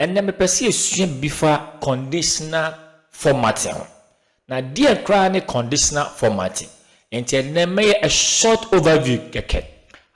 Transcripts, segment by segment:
Ɛnnɛ mepɛ sɛ yɛsua biribi fa conditional formatting ho. Na deɛ koraa ne conditional formatting? Nti ɛnnɛ mɛyɛ a short overview kɛkɛ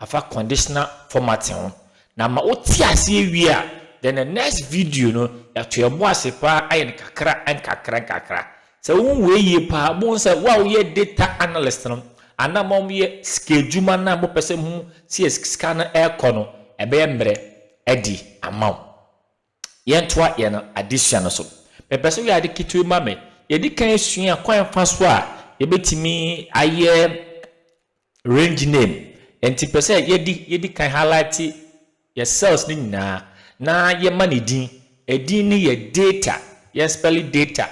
afa conditional formatting ho. Na ma wote aseɛ wie a, then the next video no yɛato yɛn bo ase paa ayɛ no kakra nkakra nkakra. Sɛ wohu wei yie paa a, wobɛhu sɛ wo a woyɛ data analyst no anaa mo a moyɛ sikaadwuma no a mopɛ sɛ mohu sɛdeɛ sika no rekɔ no, ɛbɛyɛ mmerɛ adi ama wo. Yɛntoa yɛn adesua no so. Mepɛ sɛ woyɛ ade ketewa bi ma me. Yɛadi kan asua kwan fa so a yɛbɛtumi ayɛ Range name, ɛnti pɛ sɛ yɛdi yɛdi kan highlighte yɛ cells no nyinaa na yɛ ma no din, ɛdin no yɛ data, yɛn spɛle data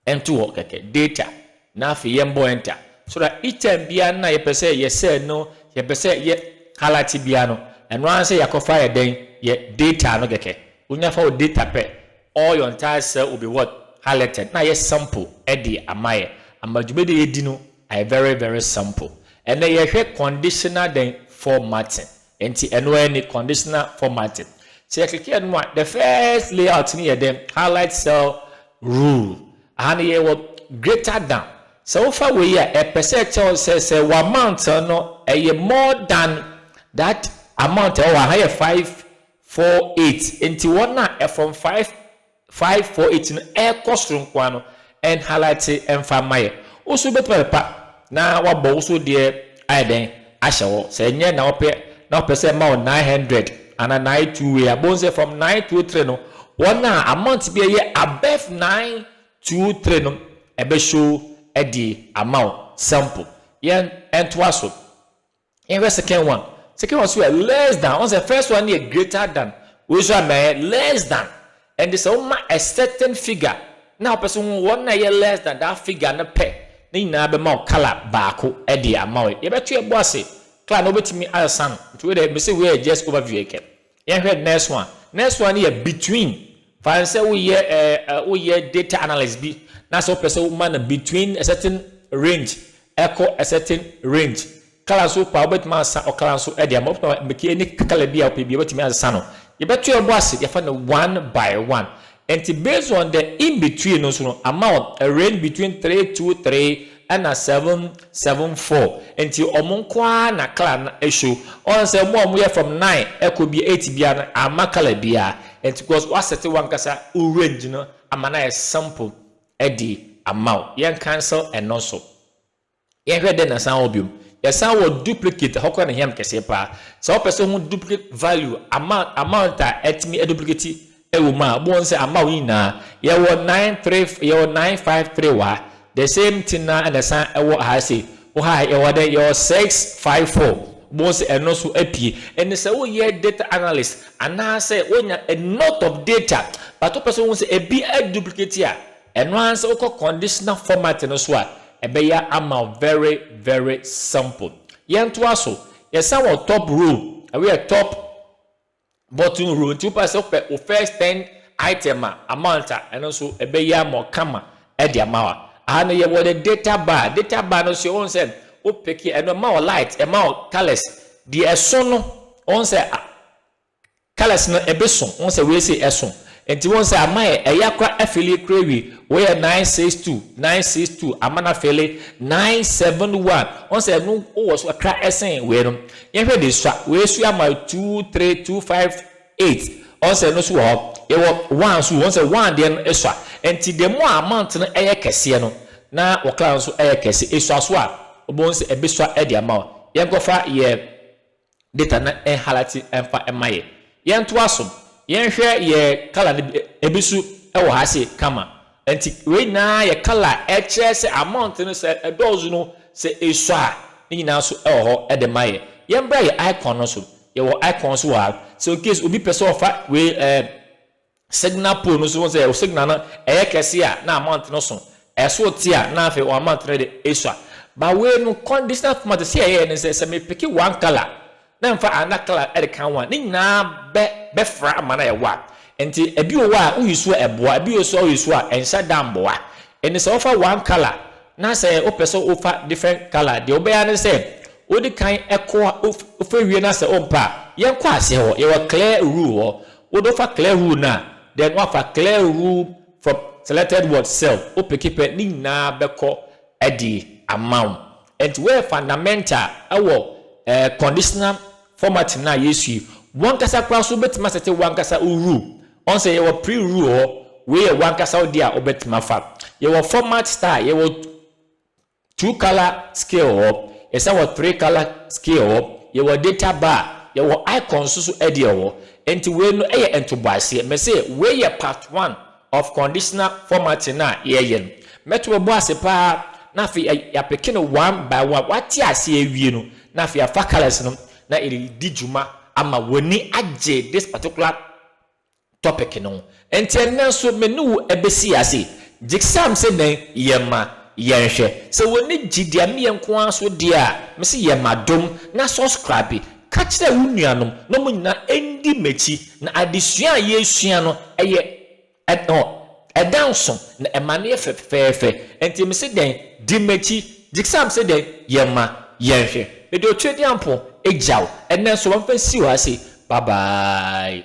ɛnto hɔ kɛkɛ, data, na afei yɛn bɔ enter so that each time biara no na yɛ pɛ sɛ yɛ cell no yɛ pɛ sɛ yɛ highlighte biara no ɛno ara sɛ yɛ akɔ fa yɛ dɛn yɛ data no kɛkɛ, wonya fa wo data pɛ all your entire cell will be what highlighted na yɛ sample ɛde ama yɛ ama dwumadie a yɛdi no. Ayɛ very very simple. Ɛnɛ yɛhwɛ conditional dɛn? Formatting. Nti ɛno ara ni, conditional formatting. Sɛ yɛkeke ɛno a, the first layout no yɛ dɛn? Highlight cell rule. Aha no yɛwɔ greater than. Sɛ wofa wei a, ɛpɛ sɛ ɛkyerɛ wo sɛ sɛ w'amount no ɛyɛ more than that amount a ɛwɔ ha. Ha yɛ five four eight. Nti wɔn a ɛfrom five Five four eight no ɛkɔ soro nkoa no ɛn highlight ɛnfa mma yɛ wo so bɛtumi apepa na wabɔ wo so deɛ ayɛ dɛn ahyɛ hɔ sɛ ɛnyɛ na wopɛ na wopɛ sɛ ɛma wo nine hundred ana nine two wei a bohu sɛ from nine two three no wɔn a amount bi ɛyɛ above nine two three no ɛbɛ show ɛde ama wo sample yɛn ɛntoa so Yɛnhwɛ second one. Second one so yɛ less than. Ɔn sɛ first one yɛ greater than. Wei so ama yɛ less than. Ɛnde sɛ woma a certain figure na wopɛ sɛ wohu wɔn a ɛyɛ less than that figure no pɛ, ne nyinaa bɛma wo colour baako de ama wo. Yɛbɛto yɛn bo ase. Colour no wobɛtumi asan. Nti wei deɛ mese wei yɛ just overview kɛkɛ. Yɛnhwɛ next one. Next one no yɛ between. Fa no sɛ woyɛ ɛɛ woyɛ data analyst bi na sɛ wopɛ sɛ woma no between a certain range ɛkɔ a certain range. Colour nso wopɛ a wobɛtumi asesa ɔcolour nso de ama. Wobɛtumi amake any colour bi a wopɛ biara wobɛtumi asesa no. Yɛbɛto yɛn bo ase de afa no one by one. Enti based on the in between no so no ama wɔn a range between three two three ɛna seven seven four nti wɔn nko ara na colour no show wɔn sɛ wɔn a wɔn yɛ from nine ɛkɔ bi eight biara no amma colour biara nti because wa set wɔn ankasa wo range no ama no ayɛ simple ɛde ama wo yɛn cancel ɛno nso. Yɛhwɛ dɛ na san wɔ bio. Yɛsan wɔ duplicate, ɛhɔ koraa na ehia me kɛseɛ paa. Sɛ wopɛ sɛ wohu duplicate value, amount, amount a ɛtumi aduplicate wɔ mu a, wobɛhu sɛ ama wo nyinaa. Yɛwɔ nine three, yɛwɔ nine five three wɔ ha. The same thing no ara na ɛsan wɔ ha sei. Wɔ ha yɛwɔ dɛn? Yɛwɔ six five four. Wobɛhu sɛ ɛno nso apue. Ɛnne sɛ woyɛ data analyst anaasɛ wonya a lot of data but wopɛ sɛ wohu sɛ ebi aduplicate a, Ɛno ara sɛ wokɔ conditional format no so a, ɛbɛyɛ ama wo very very simple. Yɛntoa so, yɛsan wɔ top row, ɛhɔ yɛ top bottom row nti wopɛ sɛ wopɛ wo first ten item a, amount a, ɛno nso ɛbɛyɛ ama wo kama de ama wo. Aha no yɛwɔ the data bar, data bar no nso wohu sɛ wo pick ɛno ɛma wo light, ɛma wo colours, deɛ ɛso no wohu sɛ Colours no ebi so wohu sɛ wei sei ɛso nti wohu sɛ ama yɛ ɛya kora afili kora wie woyɛ nine six two nine six two ama no afili nine seven one wohu sɛ ɛno wowɔ so kakra ɛsen wei no yɛhwɛ de sua wei so ama two three two five eight wohu sɛ ɛno so wɔ hɔ yɛwɔ one so wohu sɛ one deɛ no esua nti the more amount no ɛyɛ kɛseɛ no na wɔ colour no so ɛyɛ kɛse esua so a wobɛhu sɛ ɛbɛsua ɛde ama wo yɛnkɔfa yɛ Data no nhalati mfa mma yɛ. Yɛntoa so. Yɛnhwɛ yɛ colour no bi, ebi so wɔ ha se kama. Nti wei nyinaa yɛ colour a ɛkyerɛ sɛ amount no sɛ ɛdɔɔso no, sɛ esua a, ne nyinaa so wɔ hɔ de ma yɛ. Yɛmbra yɛ icon no so. Yɛwɔ icon so wɔ ha. Sɛ in case obi pɛ sɛ ɔfa wei ɛɛ signal pole no nso wohu sɛ signal no ɛyɛ kɛse a na amount no so ɛso te a na afei wɔn amount no de esua ba wei no conditional format sɛ ɛyɛ ne sɛ sɛ me pick one color na mfa another color ɛde kan ho a ne nyinaa bɛ bɛfra ama na ɛwɔ a nti ebi wɔ hɔ a woyi so a ɛboa ebi wɔ so a woyi so a ɛnhyɛ da mboa ɛne sɛ wɔfa one color na sɛ wopɛ sɛ wofa different color deɛ wobɛyɛ ne sɛ wodi kan ɛkɔ wofɛ wie na sɛ wompɛ a yɛnkɔ aseɛ hɔ yɛwɔ clear rule hɔ Wo do fa clear rule no a, then woafa clear rule from selected word cell, wo peke pɛ ne nyinaa bɛkɔ de ama wo. Ɛnti woyɛ fundamental ɛwɔ ɛɛ conditional formatting no a yɛsu yi. Wankasa koraa nso wobɛtumi asɛte wankasa wo rule. Ɔn sɛ yɛwɔ pre rule wɔ hɔ, wei yɛ wankasa wo deɛ a wobɛtumi afa. Yɛwɔ format style, yɛwɔ Two color scale hɔ, yɛsan wɔ three color scale hɔ, yɛwɔ data bar, yɛwɔ icons nso deɛ hɔ. Nti wei no yɛ ntoboaseɛ. Mese wei yɛ part one of conditional formatting a yɛɛyɛ no. Mɛto bɛbɔ ase paa na afei yɛapeke no one by one. Wate aseɛ awie no na afei yɛafa colors no na yɛde redi dwuma ama w'ani agye this particular topic no ho. Enti ɛnnɛ nso me ne wo bɛsi ase. Gyksam sɛ nɛn? Yɛma. Yɛnhwɛ. Sɛ w'ani gye deɛ me yɛ nko ara so deɛ a, me se yɛma dom na subscribe. Ka kyerɛ wo nuanom na wɔn nyinaa ndi m'akyi na adesua a yɛresua no yɛ ɛn oh. Ɛda nso na ɛma no yɛ fɛ fɛfɛɛfɛ. Enti mese dɛn? Di m'akyi. Jixam se dɛn? Yɛ ma yɛnhwɛ. Mede Otuadiampo gya wo. Ɛnnɛ nso wɔmfa nsi w'ase. Bye bye.